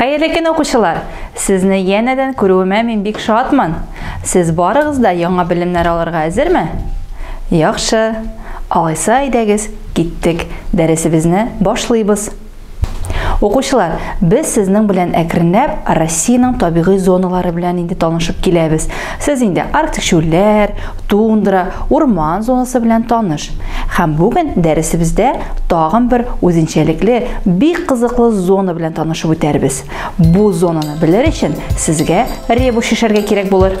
Хәерле көн укучылар! Сезне янәдән күрүемә мин бик шатмын. Сез барыгыз да яңа белемнәр алырга әзерме? Яхшы. Алайса әйдәгез, киттек, дәресебезне башлыйбыз. Укучылар, без сезнең белән әкренләп Россиянең табигый зоналары белән инде танышып киләбез. Сез инде арктик чүлләр, тундра, урман зонасы белән таныш. Һәм бүген дәресебездә тагын бер үзенчәлекле, бик кызыклы зона белән танышып үтәрбез. Бу зонаны белер өчен сезгә ребус шешәргә кирәк булыр.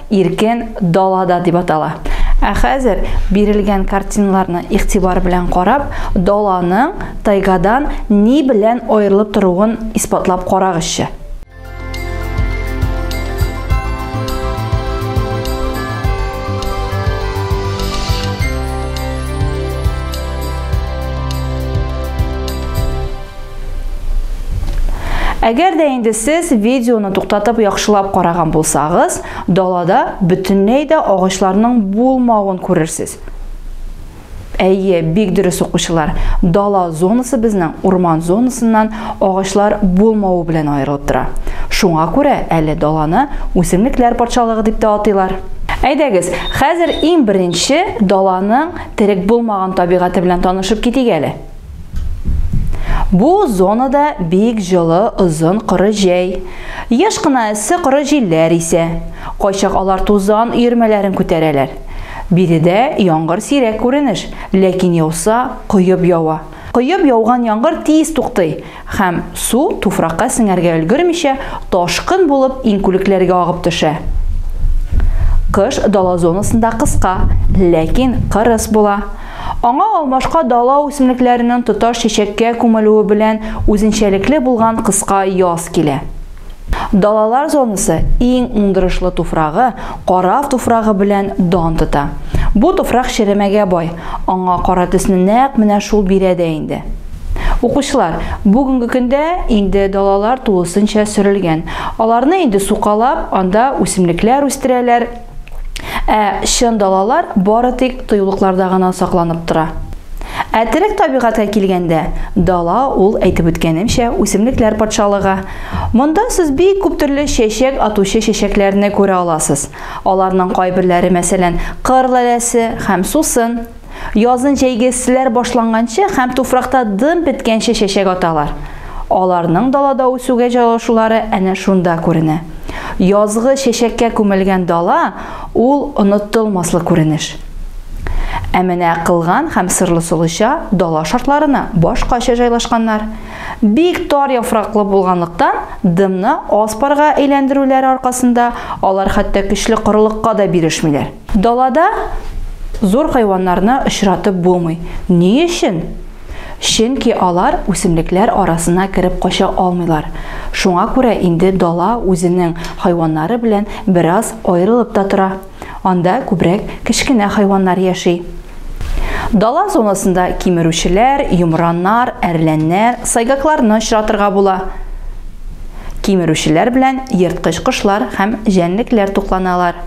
иркен далада дип атала. Ә хәзер бирелгән картиналарны игътибар белән карап, даланың тайгадан ни белән аерылып торуын исбатлап карагызчы. Әгәр дә инде сез видеоны туктатып яхшылап караган булсагыз, далада бөтенләй дә агачларның булмавын күрерсез. Әйе, бик дөрес укучылар. Дала зонасы безнең урман зонасыннан агачлар булмавы белән аерылып тора. Шуңа күрә әле даланы үсемлекләр патшалыгы дип тә атыйлар. Әйдәгез, хәзер иң беренче даланың терек булмаган табигате белән танышып китик әле. Бу зонада бик җылы, озын коры җәй. Еш кына эссе коры җилләр исә. Кайчак алар тузан өермәләрен күтәрәләр. Биредә яңгыр сирәк күренеш, ләкин яуса, коеп ява. Коеп яуган яңгыр тиз туктый һәм, су туфракка сеңәргә өлгермичә, ташкын булып иңкүлекләргә агып төшә. Кыш дала зонасында кыска, ләкин кырыс була. Аңа алмашка дала үсемлекләренең тоташ чәчәккә күмелүе белән үзенчәлекле булган кыска яз килә. Далалар зонасы иң уңдырышлы туфрагы, карав туфрагы белән дан тота. Бу туфрак черемәгә бай, аңа кара төсне нәкъ менә шул бирә дә инде. Укучылар, бүгенге көндә инде далалар тулысынча сөрелгән. Аларны инде сукалап, анда үсемлекләр үстерәләр, Ә чын далалар бары тик тоюлыкларда гына сакланып тора. Ә терек табигатькә килгәндә, дала ул, әйтеп үткәнемчә, үсемлекләр патшалыгы. Монда сез бик күп төрле чәчәк атучы чәчәкләрне күрә аласыз. Аларның кайберләре, мәсәлән, кыр лаләсе һәм сусын. Язын җәйгесләр башланганчы һәм туфракта дым беткәнче чәчәк аталар. Аларның далада үсүгә җайлашулары әнә шунда күренә. Язгы чәчәккә күмелгән дала, ул онытылмаслык күренеш. Ә менә Кылган һәм Сырлы Солыча дала шартларына башкача җайлашканнар. Бик тар яфраклы булганлыктан, дымны аз парга әйләндерүләре аркасында алар хәтта көчле корылыкка да бирешмиләр. Далада зур хайваннарны очратып булмый. Ни өчен? Чөнки алар үсемлекләр арасына кереп кача алмыйлар. Шуңа күрә инде дала үзенең хайваннары белән бераз аерылып та тора. Анда күбрәк кечкенә хайваннар яши. Дала зонасында кимерүчеләр, йомраннар, әрләннәр, сайгакларны очратырга була. Кимерүчеләр белән ерткыч кошлар һәм җәнлекләр тукланалар.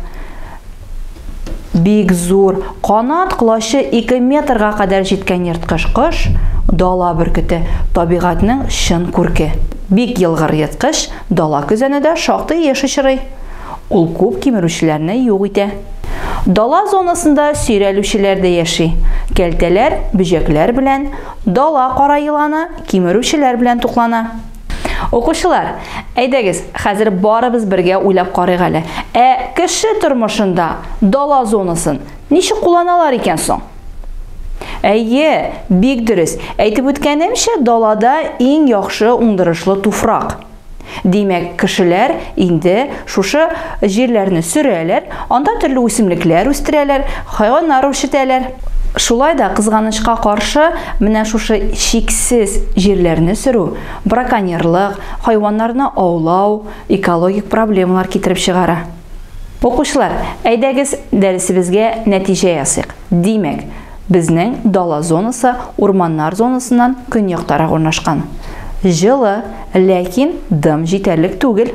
Бик зур, канат колачы 2 метрга кадәр җиткән ерткыч кош, дала бөркете, табигатьнең чын күрке. Бик елгыр ерткыч, дала көзәне дә шактый еш очрый. Ул күп кимерүчеләрне юк итә. Дала зонасында сөйрәлүчеләр дә яши, кәлтәләр, бөҗәкләр белән, дала кара еланы, кимерүчеләр белән туклана. Укучылар, әйдәгез, хәзер барыбыз бергә уйлап карыйк әле. Ә кеше тормышында дала зонасын ничек кулланалар икән соң? Әйе, бик дөрес. Әйтеп үткәнемчә, далада иң яхшы уңдырышлы туфрак. Димәк, кешеләр инде Шушы җирләрне сөрәләр, анда төрле үсемлекләр үстерәләр, хайваннар үрчетәләр. Шулай да, кызганычка каршы, менә шушы чиксез җирләрне сөрү, браконьерлык, хайваннарны аулау экологик проблемалар китереп чыгара. Укучылар, әйдәгез, дәресебезгә нәтиҗә ясыйк. Димәк, безнең дала зонасы урманнар зонасыннан көньяктарак урнашкан. Җылы, ләкин дым җитәрлек түгел.